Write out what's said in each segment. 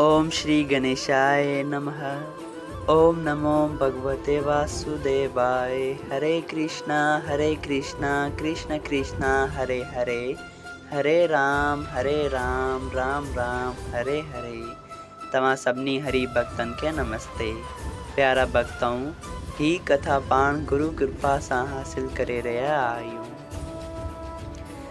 اوم شري گنيشاء نمه اوم نمو ڀڳوتي واسوديواء هري ڪرشنا هري ڪرشنا ڪرشنا ڪرشنا هري هري هري رام هري رام رام رام هري هري توهان سڀني هري ڀڳتن کي نمستي پيارا ڀڳتؤن هي ڪٿا پاڻ گرو ڪرپا سان حاصل ڪري رهيا آهيون.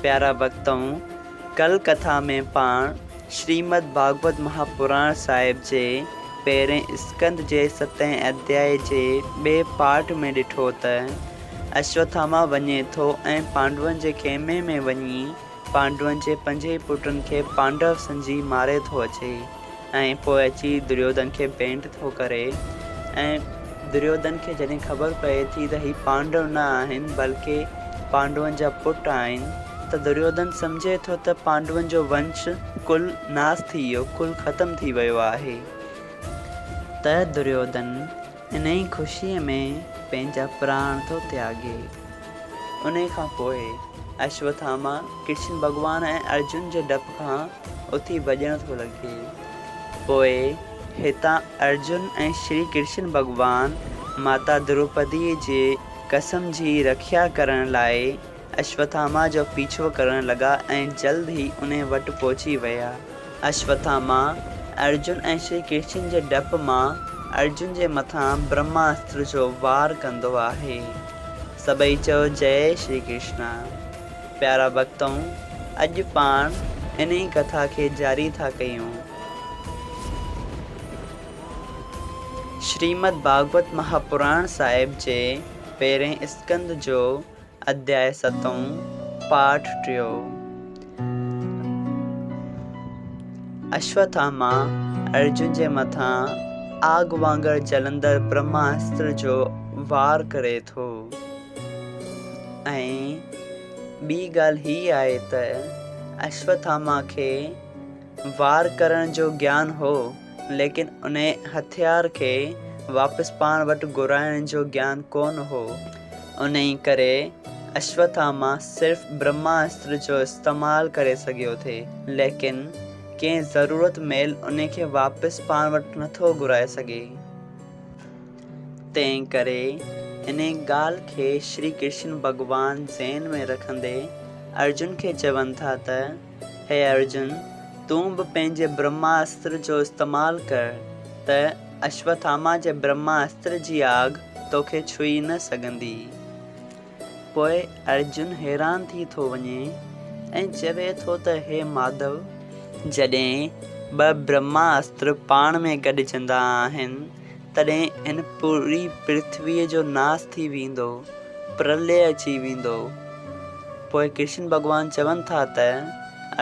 پيارا ڀڳتؤن! ڪل ڪٿا ۾ پاڻ شريمد ڀاڳوت مها پراڻ صاحب جي پهرئين اسڪند جي ستئين اڌياء جي ٻئي پاٺ ۾ ڏٺو ته اشوٿاما وڃي ٿو ۽ پانڊون جي خيمي ۾ وڃي پانڊون جي پنجئي پٽن کي پانڊو سمجهي ماري ٿو اچي. ۽ پوء اچي دريوڌن کي ڀيٽ ٿو ڪري ۽ دريوڌن کي جڏهن خبر پئي ٿي ته هي پانڊو نه آهن بلڪ پانڊون جا پٽ آهن ته دريوڌن سمجهي ٿو ته پانڊون جو ونش ڪل ناس ٿي ويو ڪل ختم ٿي ويو آهي ته دريوڌن انهيء خوشيء ۾ پنهنجا پراڻ ٿو تياڳي. انهيء کان پوء اشوٿاما ڪرشن ڀڳوان ۽ ارجن جي ڊپ کان اٿي ڀڄڻ ٿو لڳي. پوء هتان ارجن ۽ شري ڪرشن ڀڳوان ماتا دروپديء جي قسم جي رکيا ڪرڻ لاء اشوٿاما جو پيڇو ڪرڻ لڳا ۽ جلد ئي انهي وٽ پهچي ويا. اشوٿاما، ارجن ۽ شري ڪرشن جي ڊپ مان ارجن جي مٿان برهماستر جو وار ڪندو آهي. سڀئي چئو جئي شري ڪرشنا. پيارا ڀڳتؤ، اڄ پاڻ انهي ڪٿا کي جاري ٿا ڪيون. شريمد ڀاڳوت مهاپراڻ صاحب جي پهرين اسڪند جو اڌياء ستون، پاٺ ٽيون. اشوٿاما ارجن جي مٿان آگ وانگر جلندڙ برهماسٽر جو وار ڪري ٿو ۽ ٻي ڳالهه هي آهي ته اشوٿاما کي وار ڪرڻ جو گيان هو، ليڪن انهيء هٿيار کي واپس پاڻ وٽ گهرائڻ جو گيان ڪونه هو. انهيء ڪري اشوٿاما صرف برهماسٽر جو استعمال ڪري سگهيو ٿي، ليڪن ڪنهن ضرورت مهل انهيء کي واپس پاڻ وٽ نٿو گهرائي سگهي. تنهن ڪري انهيء ڳالهه کي شري ڪرشن ڀڳوان ذهن ۾ رکندي ارجن کي چون ٿا ته، هي ارجن! تون به پنهنجي برهما استر جو استعمال ڪر ته اشوٿاما جي برهما استر جي آگ توکي ڇهي نه سگهندي. پوء ارجن حيران ٿي ٿو وڃي ۽ چوي ٿو ته هي ماڌو! جڏهن ٻه برهما استر پاڻ ۾ گڏجندا آهن. تڏهن هن پوريء پرٿويء جو ناس ٿي ويندو، پرلئه اچي ويندو. پوء ڪرشن ڀڳوان چون ٿا ته،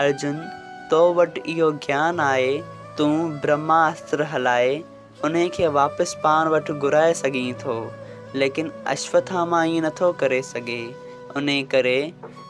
ارجن! تو وٽ اهو گيان آهي، تون برهماستر هلائي، انهي کي واپس پاڻ وٽ گهرائي سگهين ٿو، ليڪن اشوٿاما ائين نٿو ڪري سگهي، انهي ڪري،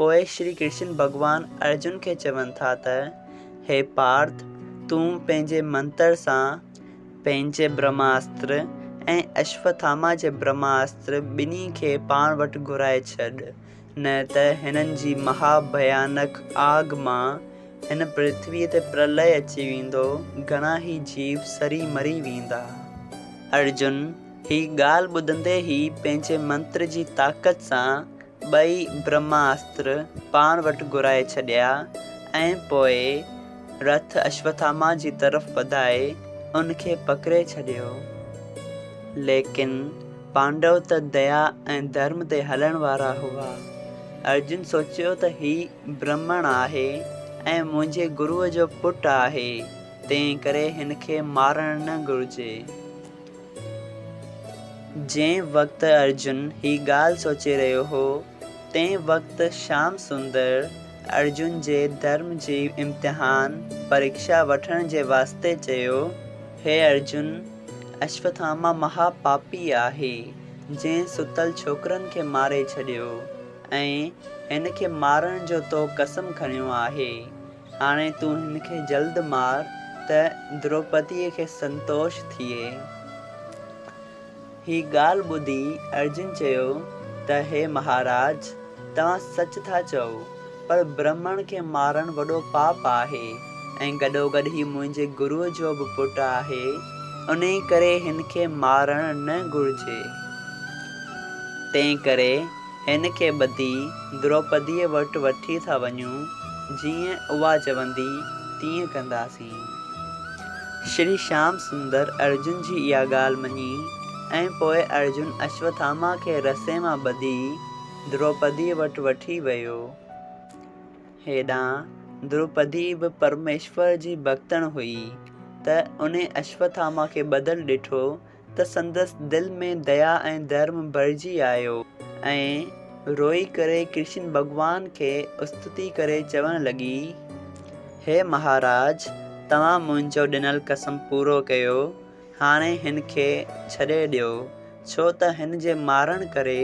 پوء شري ڪرشن ڀڳوان ارجن کي چون ٿا ته، هي پارٿ! تون پنهنجي منتر سان پنهنجي برهماستر ۽ اشوٿاما جي برهماستر ٻنهي کي پاڻ وٽ گهرائي ڇڏ، نه ته هنن جي مها ڀيانڪ آگ مان هن پرٿويء تي پرلئه اچي ويندو، گهڻا ئي جيو سري مري ويندا. ارجن هي ڳالهه ٻڌندي ئي پنهنجي منتر جي طاقت سان ٻئي برهماستر پاڻ وٽ گهرائي ڇڏيا ۽ پوء رٿ اشوٿاما جي طرف وڌائي ان کي پڪڙي ڇڏيو. ليڪن پانڊو ته ديا ۽ ڌرم تي هلڻ وارا هئا. ارجن سوچيو ته هي برهمڻ آهي ۽ منهنجي گروء جو پٽ آهي، تنهنڪري هن کي مارڻ نه گهرجي. جنهن وقت ارجن هي ڳالهه سوچي رهيو هو، تنهن وقت شيام سندر ارجن جي ڌرم جي امتحان، پريڪشا، وٺڻ جي واسطي چيو، هي ارجن! اشوٿاما مها پاپي آهي، جنهن ستل ڇوڪرن کي ماري ڇڏيو ۽ هن کي مارڻ جو تو قسم کنيو آهي. هاڻي تون هن کي جلد مار ته دروپديء کي سنتوش ٿئي. هي ڳالهه ٻڌي ارجن چيو ته هي مهاراج! توهان سچ ٿا چئو، پر برهمڻ کي مارڻ وڏو پاپ آهي ۽ گڏوگڏ هي منهنجي گروء جو به پٽ آهي، انهيء ڪري هن کي مارڻ نه گهرجي. تنهنڪري هن کي ٻڌي دروپديء وٽ وٺي ٿا وڃون، جيئن اها چوندي تيئن ڪنداسين. شري شيام سندر ارجن جي اها ڳالهه مڃي ۽ پوء ارجن اشوٿاما کي رسي مان ٻڌي دروپديء وٽ وٺي ويو. هيڏانهن دروپدي به پرميشور جي ڀڳتڻ هئي ته انهي اشوٿاما کي ٻڌل ڏٺو ته سندس دل ۾ ديا ۽ ڌرم ڀرجي آيو ۽ روئي ڪري ڪرشن ڀڳوان کي استتي ڪري چوڻ لڳي، هي مهاراج! توهان منهنجو ڏنل قسم پورو ڪيو، هاڻي هن کي ڇڏي ڏيو، ڇو ته هن جي مارڻ ڪري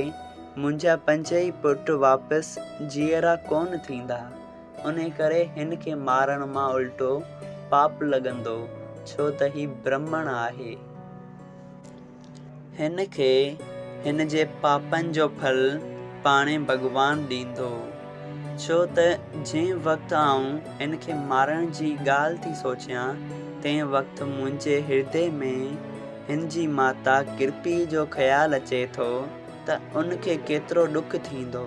منهنجا پنج ئي پٽ واپس جيئرا ڪونه ٿيندا. انهيء ڪري هن کي مارڻ مان الٽو پاپ لڳندو، ڇو ته هي برهمڻ آهي. هن کي هن جي پاپن جو ڦل پاڻهي ڀڳوان ڏيندو، ڇو ته جنهن وقت آئون هن کي مارڻ جي ڳالهه ٿي سوچيان، تنهن وقت منهنجي هردي ۾ هن جي ماتا ڪرپيء جو خيال اچي ٿو ته ان کي ڪيترو ڏک ٿيندو.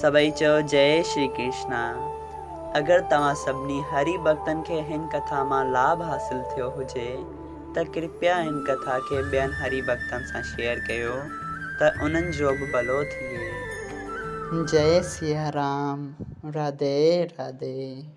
سڀئي چيو جئي شري ڪرشنا. اگر توهان سڀني هري ڀڳتن کي هن ڪٿا مان لاڀ حاصل ٿيو هجي ته ڪرپيا هن ڪٿا کي ٻين هري ڀڳتن سان شيئر ڪيو ته انهن جو به ڀلو ٿئي. جئي سيارام راڌي راڌي.